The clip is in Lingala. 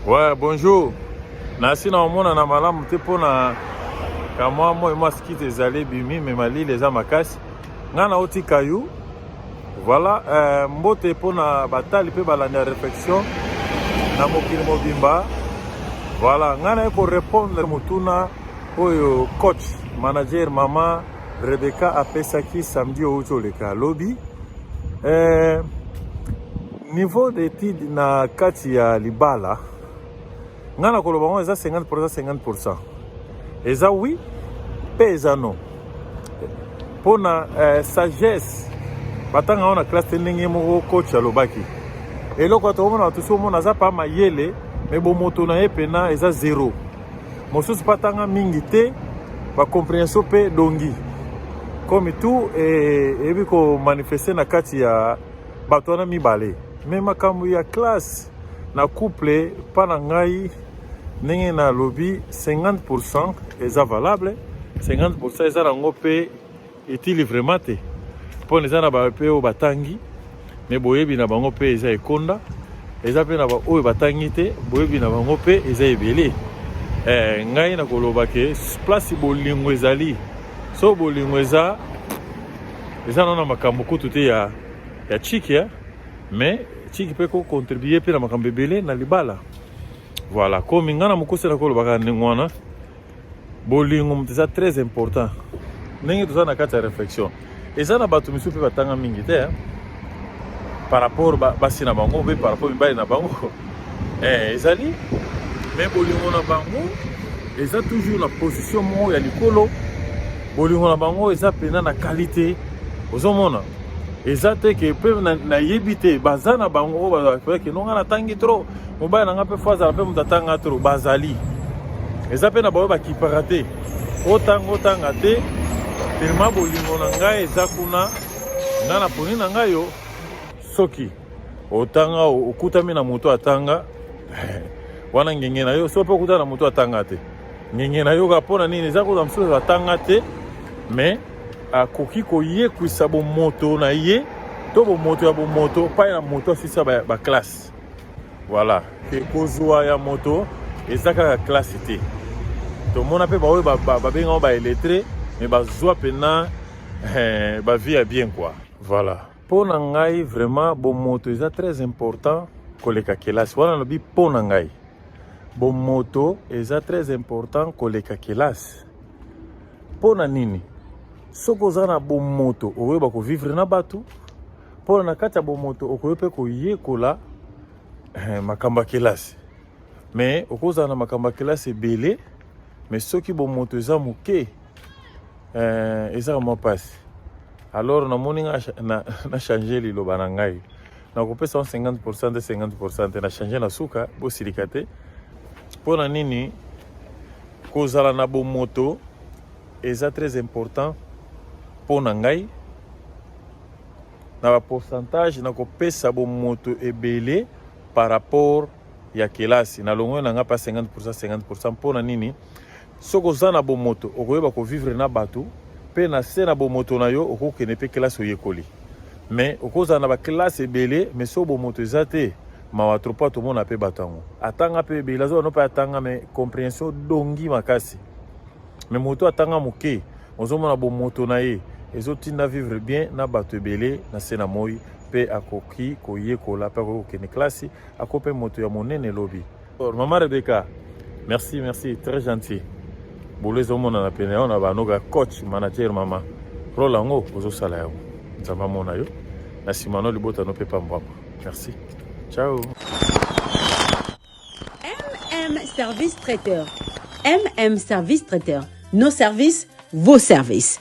Ouais, bonjour. nasi na omona na malamu te mpo na kamwa moi mwa skite ezali ebimi me malili eza makasi ngai naotika yo voilà euh, mbote mpo na batali mpe balandi ya réflexion na mokili mobimba voilà ngai naye korépondre motuna oyo coach manager mama rebecca apesaki samedi outi oleka lobi euh, Niveau d'étude na kati ya libala ngai nakoloba yango eza 50 50 pourcent eza oui mpe eza non mpo na eh, sagesse batanga yango na classe te ndenge moko coach alobaki eloko ya tokomona bato so omona aza pa mayele me bomoto na ye mpena eza zero mosusu mpe atanga mingi te bacomprehension mpe dongi comme tout eyebi komanifeste na kati ya bato wana mibale me makambo ya classe na couple pa na ngai ndenge nalobi 50 pourcent eza valable 50 pourcent eza nango mpe etili vraiment te mpo na eza na bape oyo batangi me boyebi na bango mpe eza ekonda eza mpe na baoyo batangi te boyebi na bango mpe eza ebele eh, ngai nakoloba ke place bolingo ezali so bolingo eza eza nana makambo kutu te ya, ya chiki eh? mais chiki mpe kocontribue mpe na makambo ebele na libala voilà komi ngai na mokuse na kolobaka ndenge wana bolingo moto eza très important ndenge toza na kati ya réflexion eza na bato misusu mpe batanga mingi te eh? par rapport basi na bango mpe par rapport mibali na bango eh, ezali me bolingo na bango eza toujours na position moko ya likolo bolingo na bango eza mpena na kalite ozomona eza te ke mpe nayebi te baza na bango oyo bazalaki nonga natangi trop mobali na ngai mpe fo azala mpe moto atanga trop bazali eza mpe na baoyo bakipaka te otanga otanga te telema bolingo na ngai eza kuna nga na poni na ngai yo soki otanga okutami na moto atanga wana ngenge na yo so mpe okutana na moto atanga te ngenge na yoka mpo na nini eza kuta mosusu atanga te mais akoki koyekwisa bomoto na ye to bomoto ya bomoto epai na moto asisa baklasse voilà ke kozwa ya moto eza kaka klasse te tomona mpe baoyo babengango baeletre mais bazwa mpena eh, bavie ya bien kua voilà Mpo na ngai vraiment bomoto eza très important koleka kelasi. Wana nalobi mpo na ngai bomoto eza très important koleka kelasi. Mpo na nini? Soki oza na bomoto okoyeba kovivre na bato, mpo na kati ya bomoto okoki mpe koyekola eh, makambo ya kelasi. Me okozala na makambo ya kelasi ebele, me soki bomoto eza moke, eh, ezaka mwa mpasi alors namoni nga na, na change liloba na ngai nakopesa 50 pourcent te 50 pourcent te na change na suka bosilika te mpo na nini kozala na bomoto eza très important mpo na ngai na bapourcentage nakopesa bomoto ebele par rapport ya kelasi na longoi na ngai mpa 50 pourcent 50 pourcent mpo na nini Soki oza na bomoto, okoyeba ko vivre na bato mpe na se na bomoto na yo okokende mpe kelasi oyekoli. Me okozala na bakelasi ebele, me so bomoto eza te, mawa trop mpo tomona mpe bato yango. Atanga mpe ebele, azoba no mpe atanga, me comprehension dongi makasi. Me moto atanga moke, ozomona bomoto na ye ezotinda vivre bien na bato ebele na se na moi, mpe akoki koyekola mpe akoki kokende kelasi, ako mpe moto ya monene lobi. Maman Rebecca, merci, merci, très gentil. Boulez au monde na pene, on a banoga coach, manager, maman. Rôle en haut, aux osala yao. Nzama mona yo. Na simano libota no pepa mbwama. Merci. Ciao. MM Service Traiteur. MM Service Traiteur. Nos services, vos services.